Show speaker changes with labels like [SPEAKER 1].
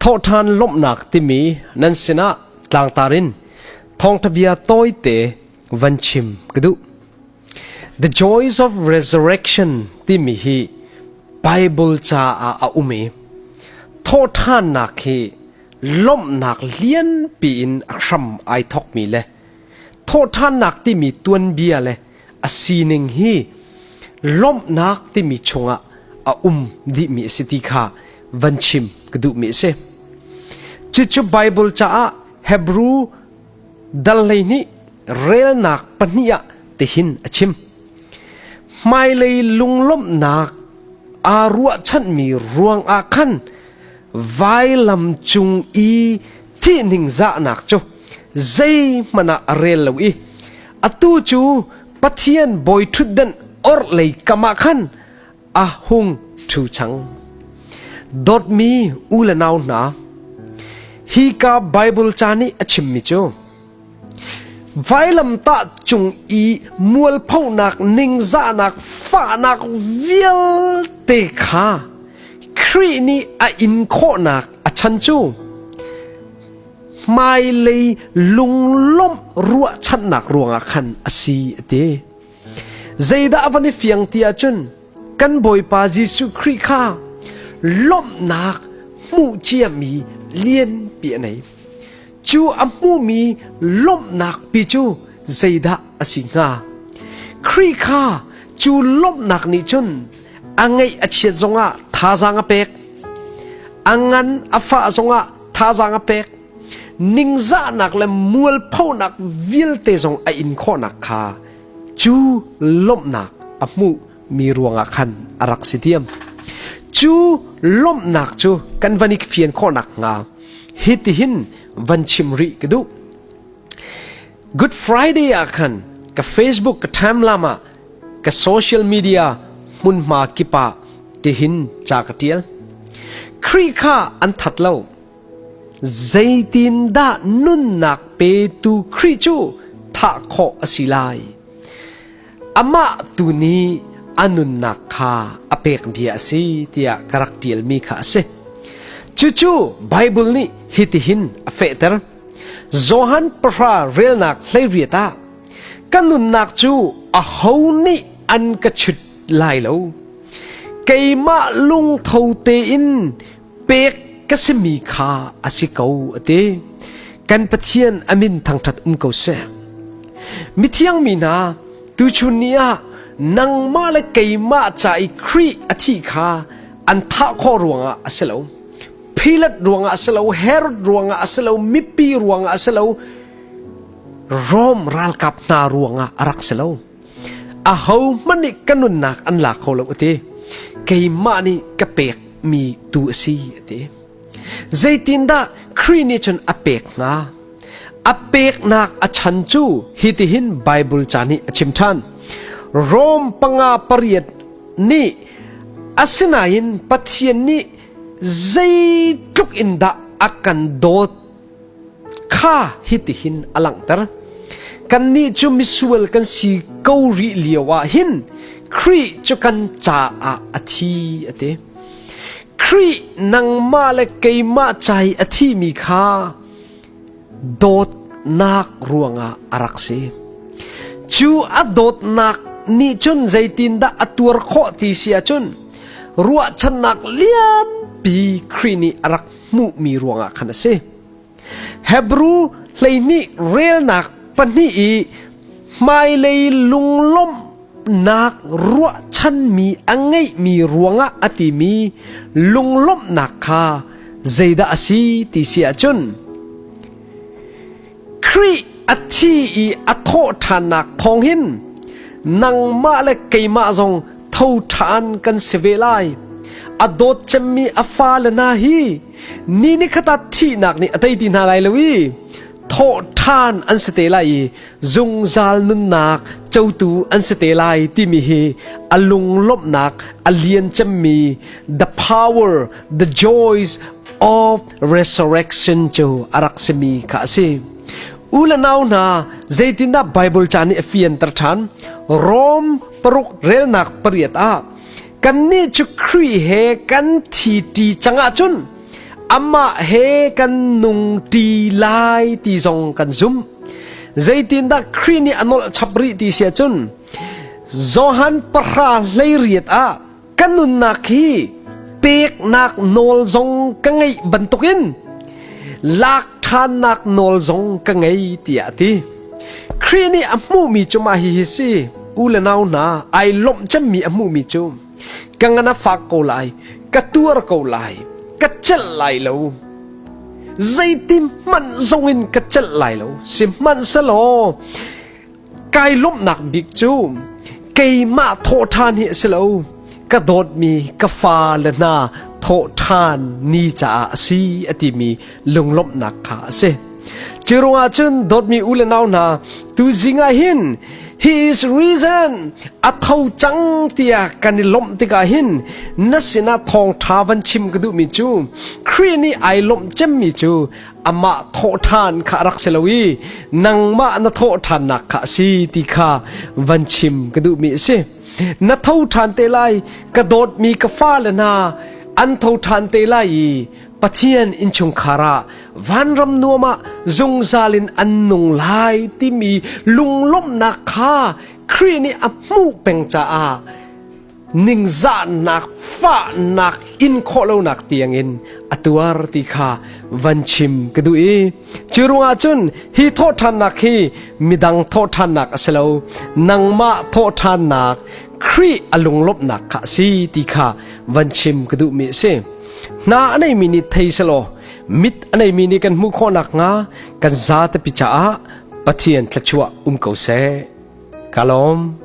[SPEAKER 1] Thawhṭhan lawmhnak timi nan sinah tlangtar in thawngṭha bia tawite van chim ka duh. The Joys of Resurrection timi hi Bible caah a um i thawhṭhannak hi lawmhnak lianpi in a hram ai thawkmi le thawhṭhannak timi tuanbia le a sining hi lawmhnak timi chungah a um dihmi a si ti kha van chim ka duhmi a si. Cucu Bible caah Hebrew dal hlei nih relnak pahnih ah tihin a chim. Hmailei lunglawmhnak aa ruahchanmi ruang ah khan vailam cung i thihning zahnak cu zeihmanh ah a rel lo i Atu cu Pathian bawi ṭhutdenh orhlei kamah khan a hung ṭhu cang. Dawtmi u le nau hna, hika Baibal ca nih a chimmi cu vailamtah cung i mualphonak ningzahnak fahnak vialte kha Khrih nih a in khawhnak a chan cu hmailei lunglawmh ruahchannak ruangah khan a si a ti. Zeidah van i fiang ti ahcun kan Bawipa Jesuh Khrih kha lawmhnak hmuh ciami lianpi a nei. Cu a hmumi lawmhnak pi cu zeidah a si hnga? Khrih kha cu lawmhnak nih cun a ngaih a chiat zongah thazaang a pek, a ngan a fah zongah thazaang a pek ningzahnak le mualphonak vialte zong a in khawhnak kha cu lawmhnak a hmuh mi ruangah khan a rak si diam cu lawmhnak cu kan van i fian khawhnak hnga hitihin van chim rih ka duh Good Friday ah khan ka Facebook ka timelam ah ka social media hmunhma kip ah tihin ca ka tial. Khrih kha an that lo. Zeitin dah nunnak petu Khrih cu thah khawh a si lai? Amah tu nih a nunnak kha a pek bia a si tiah ka rak tialmi kha a si. Cucu Bible nih hitihin a fehter. Johan pahra relnak hleiriat ah ka nunnak cu aho nih an ka chut lai lo. Keimah lungtho tein pek ka simi kha a si ko a ti. Kan Pathian a min thangṭhat um ko seh. Mithiang mi hna, tuchun ni ah nangmah le keimah ca i Khrih a thih kha an thah khawh ruangah a si lo. Pilate ruangah a si lo, Herod ruangah a si lo, mipi ruangah a si lo, Rom ralkap hna ruangah a rak si lo. A ho hmanh nih ka nunnak an la kho lo a ti. Keimah nih ka pek mi tu a si a ti. Zeitindah Khrih nih cun a pek hnga? A peknak a chan cu hitihin Baibal ca nih a chim ṭhan. Rom panga pariat nih asinain Pathian nih zeitluk in dah a kan dawt kha hitihin a langhter kannih cu misual kan si ko rih lio ah hin Khrih cu kan caah a thi a ti Khrih nangmah le keimah cai a thimi kha dawtnak ruangah a rak si. Cu a dawtnak nih cun zeitindah a tuar khawh ti si ahcun ruahchannak lianpi Khrih nih a rak hmuhmi ruangah khan a si. Hebrew hleihnih relnak pahnih i Hmailei lunglawmhnak ruahchanmi a ngeihmi ruangah a timi lunglawmhnak kha zeidah a si ti si ahcun Khrih a thi i a thawhṭhannak thawng hin nangmah le keimah zong tho ṭhan kan si ve lai. A dawt cemmi a fale hna hi ni nikhat ah thihnak nih a tei ti hna lai lo i thawhthan an si te lai i zungzal nunnak cotu an si te lai timi hi a lunglawmhnak a lian cemmi the power the joys of resurrection cu a rak simi kha a si u le nau hna zeitindah bible ca nih a fianter ṭhan rom paruk relnak pariat ah kannih cu Khrih he kan thi ṭi cangah cun Amah he kan nung ṭi lai ti zong kan zumh. Zeitindah Khrih nih a nolh chap rih ti sia cun Johan pahra hleiriat ah ka nunnak hi peknak nawl zong ka ngeih bantukin lak ṭhannak nawl zong ka ngei tiah a ti. Khrih nih a hmuhmi cu mah hihi si, u le nau hna, ai lawmh cemmi a hmuhmi cu Ka ngan a fak ko lai, ka tuar ko lai, ka celh lai lo. Zeitin hmanh zong in ka celh lai lo, sihmanhselaw kai lawmhnak bik cu keimah thawh ṭhan hi a si lo, ka dawtmi ka fa le hna thawh ṭhan ni caah a si a timi lunglawmhnak kha a si. Cu ruangah cun dawtmi u le nau hna, tuzing ah hin He is risen a tho cang tiah kan i lawmh tikah hin na sinah thawngṭha van chim ka duhmi cu Khrih nih ai lawmh cemmi cu amah thawhṭhan kha a rak si lo i nangmah na thawh ṭhannak kha a si ti kha van chim ka duhmi a si. Na tho ṭhan te lai ka dawtmi ka fale hna an tho ṭhan te lai i Pathian innchungkhar ah vanram nuam ah zungzal in an nung lai timi lunglawmhnak kha Khrih nih a hmuh peng caah ningzahnak fahnak in khawh lonak tiangin a tuar ti kha van chim ka duh i cu ruangah cun hi thawhṭhannak hi midang thawhṭhannak a si lo nangmah thawhṭhannak Khrih a lunglawmhnak kha a si ti kha van chim ka duhmi a si Hna a neimi nih thei selaw mit a neimi nih kan hmuh khawh nakhnga kan za tepi caah Pathian thluachuah um ko seh. Ka lawm.